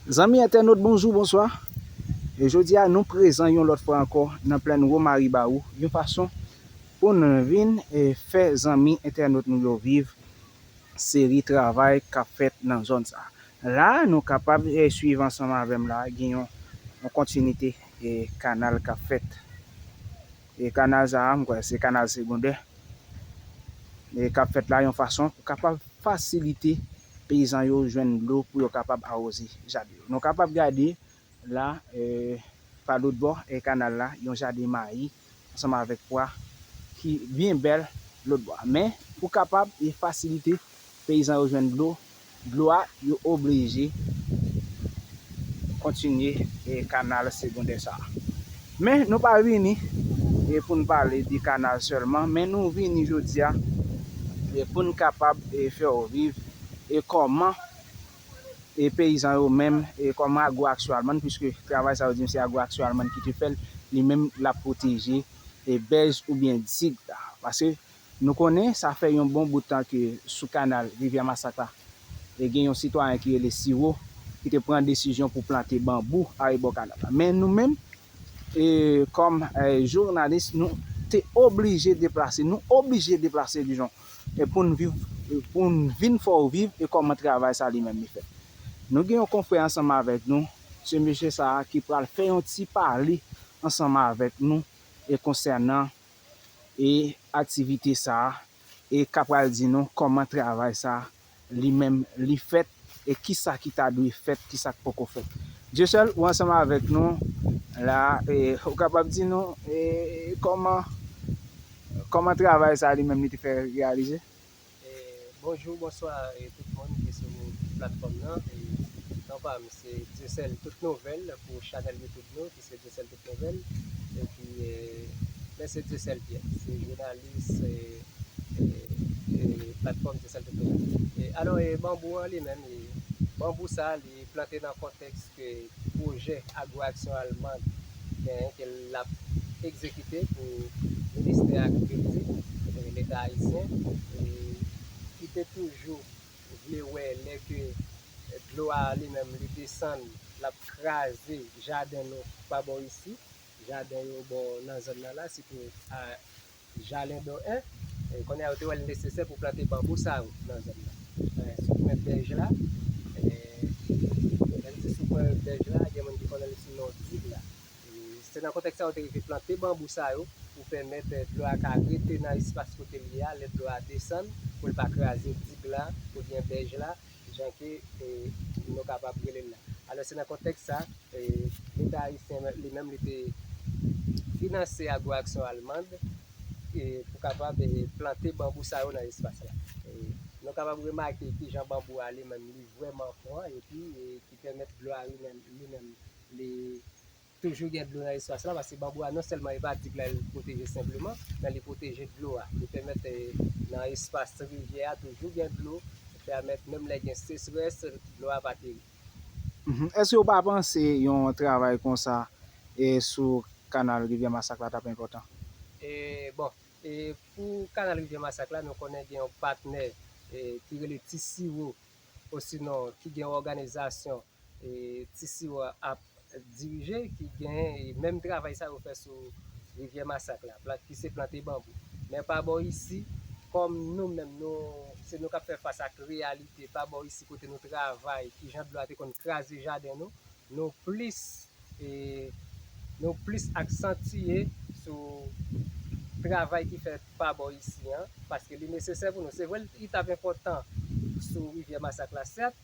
Zanmi entènot bonjou bonswa e jodi a nou prezan yon lòt fwa ankò nan plèn Womari Bawou yon fason pou n vin e fè zanmi entènot nou yo viv seri travay k ap fèt nan zòn sa la a nou kapab e swiv ansanm avè m la a gen yon kontinite e kanal k ap fèt e kanal sa a m kwè se kanal segondè e k ap fèt la yon fason pou kapab fasilite peyizan yo jwenn dlo pou yo kapab awoze jaden yo. Nou kapab gade la pa lòt bò kanal la yon jaden mayi ansanm avèk pwa ki byen bèl lòt bò a. Men pou kapab fasilite peyizan yo jwenn dlo, dlo a yo oblije kontinye kanal segondè sa a. Men nou pa vini e pou n pale de kanal sèlman men nou vini jodi a e pou n kapab e fè w viv e kòman e peyizan yo menm e kòman agro aksyon almann puiske travay sa yo di m se agro aksyon almann ki te fè l li menm l ap pwoteje e bèz oubyen dig la paske Nou konnen sa fè yon bon bout tan ke sou kanal Rivyè Masak la, gen yon sitwayen ki rele Siwo ki te pran desizyon pou plante banbou arebò kanal la. Men nou menm, kòm jounalis, nou te oblije deplase, nou oblije deplase dijon pou n vin fè w viv e kòman travay sa li menm li fèt. Nou gen yon konfrè ansanm avèk nou, se mesye sa a ki pral fè yon ti pale ansanm avèk nou konsènan. e aktivite sa a e ka pral di nou kòman travay sa a li menm li fèt e ki sa ki ta dwe fèt, ki sa k poko fèt. Dyesèl, ou ansanm avèk nou la a e ou kapab di nou e kòman kòman travay sa a li menm li te fè reyalize? Bonjou bonswa tout moun ki sou platfòm nan non pam se Dyesèl tout nouvèl pou chanèl youtube nou ki se Dyesèl tout nouvèl epi mwen se Dyesèl Pyè se jounalis platfòm Dyesèl tout nouvèl e alò banbou an li menm banbou sa li plante nan kontèks ke pwojè Agwaksyon Almand genyen ke l ap egzekite pou Ministè Agrikilti Leta Ayisyen e ki te toujou vle wè lè ke dlo a li menm li desann l ap kraze jaden nou pa bò isi, jaden yo bò nan zòn nan la sitou Jalen do 1, kounye a yo te wè l nesesè pou plante banbou sa yo nan zòn nan. Sou kwen bèj la, lè m di sou kwen bèj la, gen moun ki konnen l sou non Dig la. Se nan kontèks sa yo te rive plante banbou sa yo pou pèmèt dlo a ka rete nan espas kote l ye a lè dlo a desann, pou l pa kraze Dig la oubyen bèj la. jan ke nou kapab rele l la. Alò se nan kontèks sa, Leta ayisyen li menm li te finanse Agro-Action Allemande pou kapab plante banbou sa yo nan espas la. Nou kapab remake ki jan banbou a li menm li vrèman pran epi ki pèmèt dlo a li menm li Toujou gen dlo nan espas la paske banbou a non sèlman li pa di la li pwoteje senpleman men li pwoteje dlo a li pèmèt nan espas rivyè a toujou gen dlo ki pèmèt menm lè gen sechrès dlo a pa peri. Èske ou pa panse yon travay konsa sou kanal rivyè masak la tap enpòtan? Bon pou kanal rivyè masak la nou konnen gen yon patnè ki rele ti siwo osinon ki gen yon òganizasyon ti siwo a ap dirije ki gen menm travay sa yo fè sou rivyè masak la plant ki se plante banbou men pa bò isi kòm nou menm nou se nou kap fè fas ak reyalite pa bò isi kote nou travay ki jan dlo a te konn kraze jaden nou nou plis e nou plis aksantiye sou travay ki fèt pa bò isi an paske li nesesè pou nou se vre li tap enpòtan sou rivyè masak la sèt.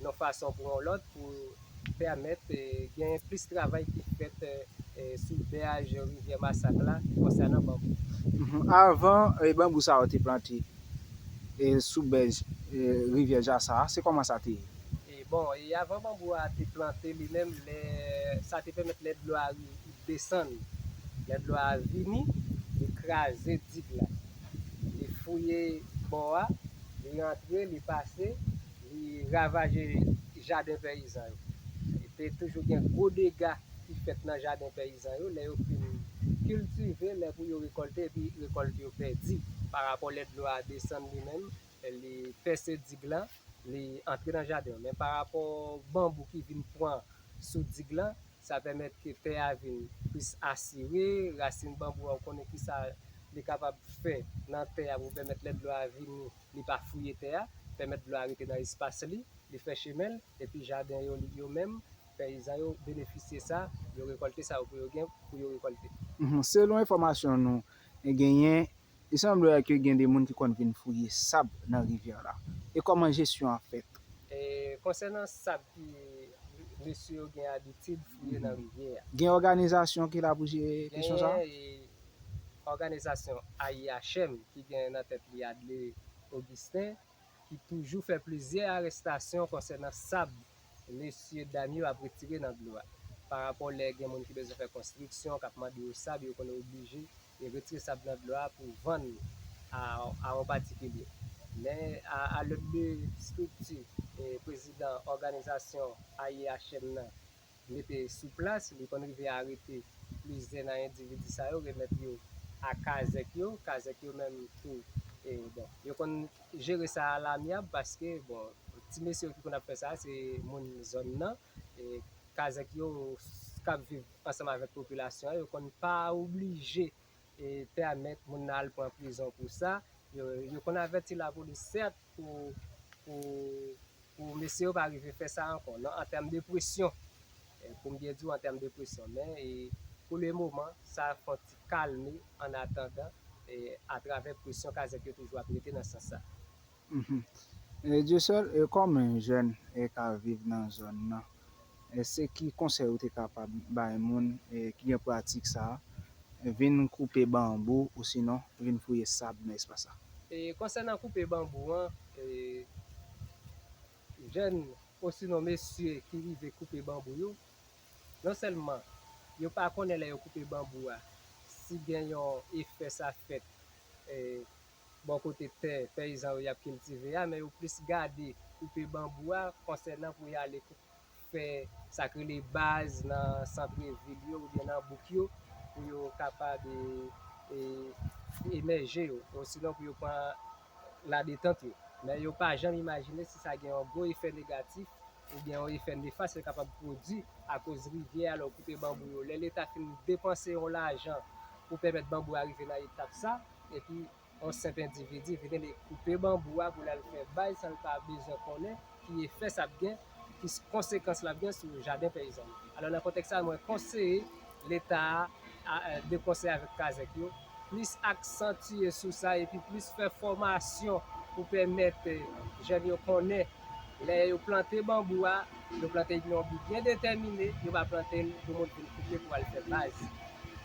yon fason pou yon lòt pou pèmèt genyen plis travay ki fèt sou bèaj rivyè Masak la konsènan banbou. Avan banbou sa yo te plante sou bèj rivyè Jasa a, se kòman sa te ye? Bon, avan banbou a te plante li menm, sa te pèmèt lè dlo a desann, lè dlo a vini, li kraze dig la, li fouye bò a, li antre, li pase, Li ravaje jaden peyizan yo. Te toujou gen gwo dega ki fèt nan jaden peyizan yo lè yo fin kiltive, lè pou yo rekòlte epi rekòlt yo pèdi. Pa rapò lè dlo a desann li menm, li pèse dig lan, li antre nan jaden yo. Men pa rapò banbou ki vin pran sou dig lan, sa pèmèt ke tè a vin plis asire, rasin banbou a ou konnen kisa li kapab fè nan tè a pou pèmèt lè dlo a vini, li pa fouye tè a, pèmèt dlo a rete nan espas li, li fè chemen l, epi jaden yo li, yo menm, peyizan yo benefisye sa, yo rekòlte sa yo pou yo gen pou yo rekòlte. Selon enfòmasyon nou genyen, li sanble ke gen de moun ki konn vin fouye sab nan rivyè la. E kòman jesyon an fèt? E konsènan sab ki mesye yo gen abitid fouye nan rivyè a? Gen òganizasyon ki la pou jere kesyon sa? Genyen, e Òganizasyon AIHM ki gen nan tèt li Adley Augustin ki toujou fè plizyè arestasyon konsènan sab mesye dam yo ap retire nan dlo a. Pa rapò lè gen moun ki bezwen fè konstriksyon k ap mande yo sab yo konn oblije retire sab nan dlo a pou vann a on patikilye. Men a lòt de estrikti prezidan òganizasyon AIHM nan Rete sou plas, li konn rive arete plizyè nan endividi sa yo, remèt yo a kazèk yo, kazèk yo menm tou, bon, yo konn jere sa a lamyab paske, bon, ti mesye yo ki konn ap fè sa a, se moun zòn nan, kazèk yo k ap viv ansanm avèk popilasyon an, yo konn pa oblije pèmèt moun nan al pran prizon pou sa, yo konn avèti lapolis sèt pou mesye yo pa rive fè sa ankò nan an tèm de presyon, pou m byen di w an tèm de presyon men pou le moman sa fon ti kalme annatandan atravè presyon kazèk yo toujou ap mete nan sans sa. Dieuseul e kòman yon jèn e ka viv nan zòn nan e se ki konsèy ou te kapab bay moun e ki gen pratik sa vin koupe banbou osinon vin fouye sab nan espas sa? E konsènan koupe banbou an e jèn osinon mesye ki rive koupe banbou yo non sèlman yo pa konnen lè yo koupe banbou a si gen yon efè sa fèt e bò kote tè peyizan yo y ap kiltive a men yo plis gade koupe banbou a konsènan pou y ale fè sa k rele baz nan santre vil yo oubyen nan bouk yo pou yo kapab emèje yo osinon pou yo pran ladetant yo men yo pa janm imajine si sa gen yon gwo efè negatif oubyen yon efè nefas yo kapab pwodui akoz rivyè a lè w koupe banbou yo lè leta fin depanse yon lajan pou pèmèt banbou a rive nan etap sa. Epi yon senp endividi vin ede koupe banbou a pou l al fè bay san l pa bezwen konnen ki efè sa ap gen, ki konsekans l ap gen sou jaden peyizan yo. Alò nan kontèks sa a mwen konseye Leta a de konsè avèk kazèk yo plis aksantye sou sa epi plis fè fòmasyon pou pèmèt jèn yo konnen lè yo plante banbou a yo plante li nan yon bi byen detèmine, yo pa plante l pou moun vin koupe pou al fè baz.